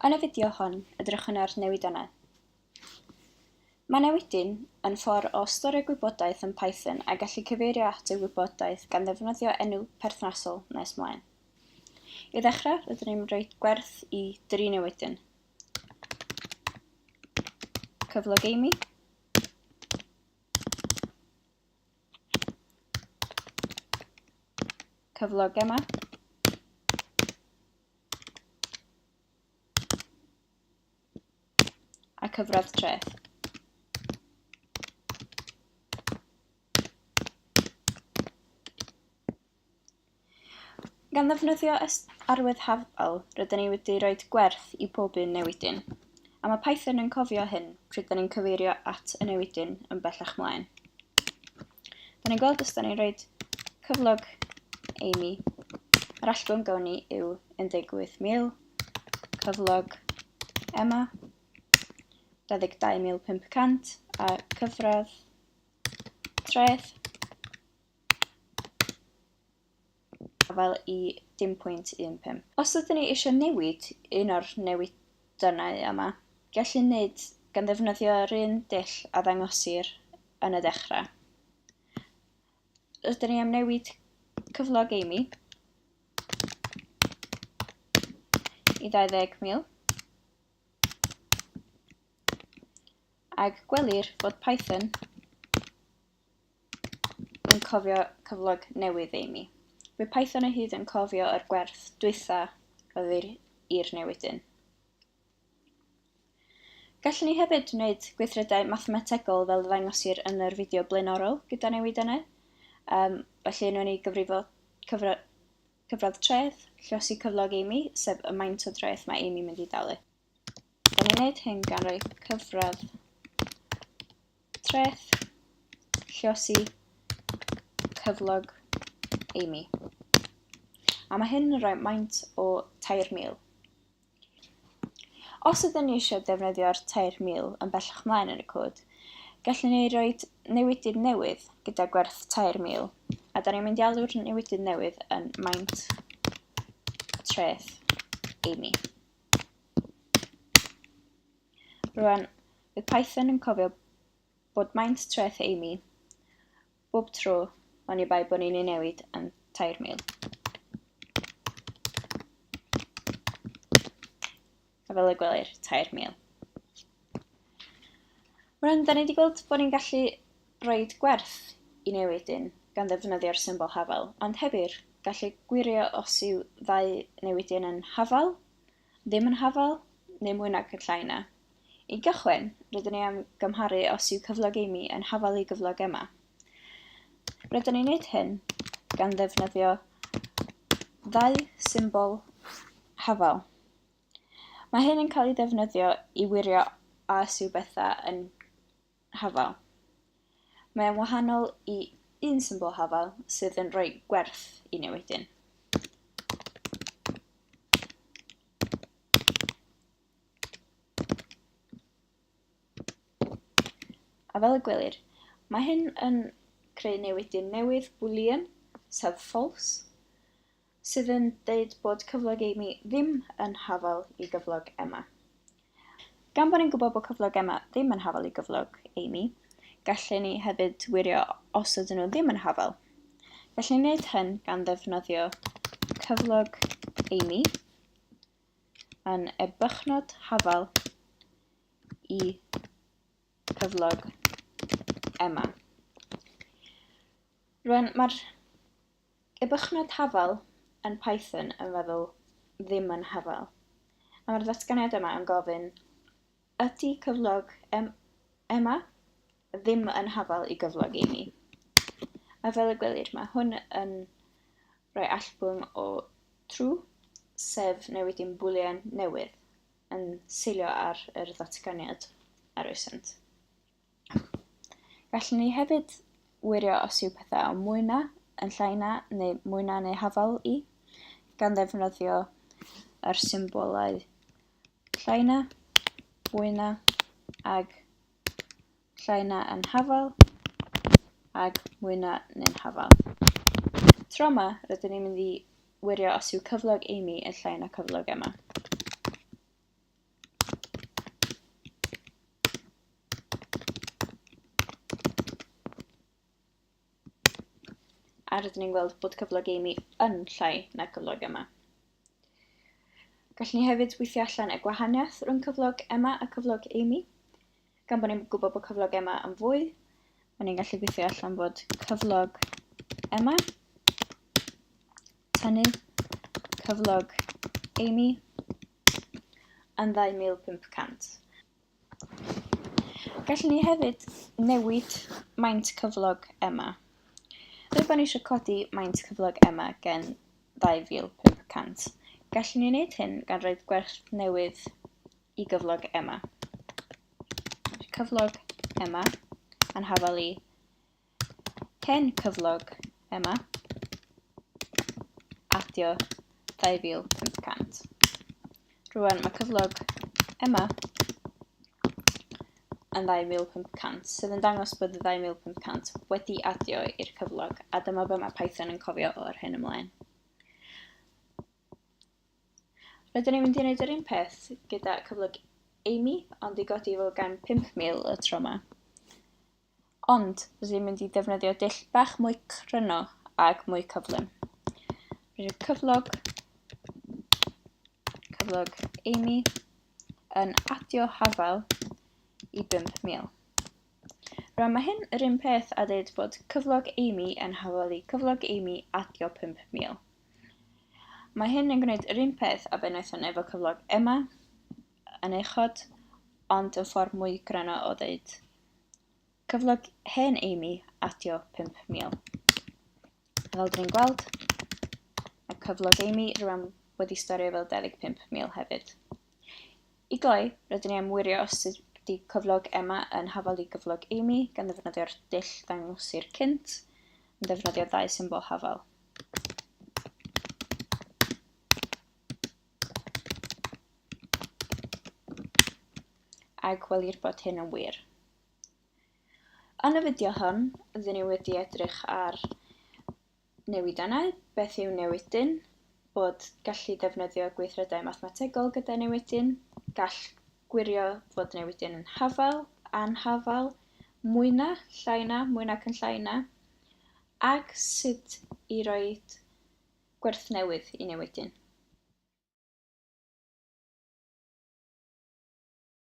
Yn y fideo hon, edrychwn ar newidannau. Mae newidyn yn ffordd o storio gwybodaeth yn Python a gallu cyfeirio at y wybodaeth gan ddefnyddio enw perthnasol nes mlaen. I ddechrau, rydyn ni'n rhoi gwerth i dri newidyn. Cyflog Amy, Cyflog yma. A cyfradd treth. Gan ddefnyddio arwydd hafal, rydyn ni wedi rhoi gwerth i bob un newidyn, a mae Python yn cofio hyn pryd da ni'n cyfeirio at y newidyn yn bellach mlaen. Da ni'n gweld os da ni'n rhoi cyflog Amy, yr allgwn gawn ni yw 18,000, cyflog Emma, 22,500, a cyfradd treth, afael i 10.15. Os ydyn ni eisiau newid un o'r newydannau yma, gellir neud gan ddefnyddio yr un dull a ddangosir yn y dechrau. Rydyn ni am newid cyflog Amy i 20,000 ac gwelir fod Python yn cofio cyflog newydd Amy. Bydd Python o hyd yn cofio yr gwerth dwytha oedd i'r i'r newidyn. Gallwn ni hefyd wneud gweithredau mathemategol fel ddangosir yn yr fideo blaenorol gyda newidennau. Um, felly nhw'n ei gyfrifo cyfra, cyfradd treth, llosi cyflog Amy, sef y maint o dreth mae Amy mynd i dalu. Da ni'n gwneud hyn gan roi cyfradd treth, lliosi, cyflog, Amy. A mae hyn yn rhoi maint o 3,000. Os ydyn ni eisiau defnyddio'r 3,000 yn bellach mlaen yn y cod, gallwn ni roi newidydd newydd gyda gwerth 3,000, a da ni'n mynd i alw'r newidydd newydd yn maint treth Amy. Rwan, bydd Python yn cofio bod maint treth Amy bob tro oni bai bod ni'n ei newid am 3,000. A fel y gwelir, 3,000. Rwan, da ni wedi gweld bod ni'n gallu rhoi gwerth i newidyn gan ddefnyddio'r symbol hafal, ond hefyd gallu gwirio os yw ddau newidyn yn hafal, ddim yn hafal, neu mwy nag y llai na. I gychwyn, rydyn ni am gymharu os yw cyflog Amy yn hafal i gyflog Emma. Rydyn ni'n gwneud hyn gan ddefnyddio ddau symbol hafal. Mae hyn yn cael ei ddefnyddio i wirio a os yw bethau yn hafal. Mae o'n wahanol i un symbol hafal sydd yn rhoi gwerth i newidyn. A fel y gwelir, mae hyn yn creu newidyn newydd boolean, sef false, sydd yn deud bod cyflog Amy ddim yn hafal i gyflog Emma. Gan bod ni'n gwybod bod cyflog Emma ddim yn hafal i gyflog Amy, gallen ni hefyd wirio os ydyn nhw ddim yn hafal. Gallen ni wneud hyn gan ddefnyddio cyflog Amy yn y bychnod hafal i cyflog Emma. Rwan, mae'r Y bychnod hafal yn Python yn feddwl ddim yn hafal. A mae'r ddatganiad yma yn gofyn, ydy cyflog em, ema ddim yn hafal i gyflog emi? A fel y gwelir, mae hwn yn rhoi allbwn o true, sef newidi'n bwlian newydd, yn seilio ar yr ddatganiad a roesant. Gallwn ni hefyd wirio os yw pethau o mwy na, yn llai na, neu mwy na neu hafal i, gan ddefnyddio yr symbolau llai na, fwy na, ag llai na yn hafal, ag mwy na neu'n hafal. Tro yma, rydyn ni'n mynd i wirio os yw cyflog Amy yn llai na cyflog Emma. A rydyn ni'n gweld bod cyflog Amy yn llai na cyflog Emma. Gallwn ni hefyd weithio allan y gwahaniaeth rhwng cyflog Emma a cyflog Amy. Gan bod ni'n gwybod bod cyflog Emma yn fwy, mae ni'n gallu gweithio allan bod cyflog Emma tynnu cyflog Amy yn 2500. Gallwn ni hefyd newid maint cyflog Emma. Rydyn ni eisiau codi maint cyflog Emma gen 2500. Gallwn ni wneud hyn gan roed gwerth newydd i gyflog Emma. Cyflog Emma yn hafal i Hen cyflog, Emma. Adio 2500. Rwan mae cyflog Emma yn 2500 sydd yn dangos bod y 2500 wedi adio i'r cyflog a dyma be mae Python yn cofio o'r hyn ymlaen. Rydyn ni'n mynd i wneud yr un peth gyda cyflog Amy ond i godi fo gan 5000 y tro yma. Ond, rydw i'n mynd i ddefnyddio dull bach mwy cryno ac mwy cyflym. Rydw i'n cyflog, cyflog Amy yn adio hafal i 5,000. Rwan mae hyn yr un peth a dweud bod cyflog Amy yn hafoli cyflog Amy adio 5000. Mae hyn yn gwneud yr un peth a be wnaethon efo cyflog Emma. yn uchod, ond yn ffordd mwy gryno o ddeud. Cyflog hen Amy adio 5000. Fel dyn ni'n gweld, mae cyflog Amy rhywun wedi storio fel 25,000 hefyd. I gloi, rydyn ni am wirio os ydy cyflog Emma yn hafal i gyflog Amy gan ddefnyddio'r dull ddangosir cynt, yn ddefnyddio ddau symbol hafal. a gwelir bod hyn yn wir. Yn y fideo hwn, rydyn ni wedi edrych ar newidannau, beth yw newidyn, bod gallu defnyddio gweithredau mathemategol gyda newidyn, gall gwirio fod newidyn yn hafal, anhafal, mwy na, llai na, mwy nac yn llai na, ac sut i roi gwerth newydd i newidyn.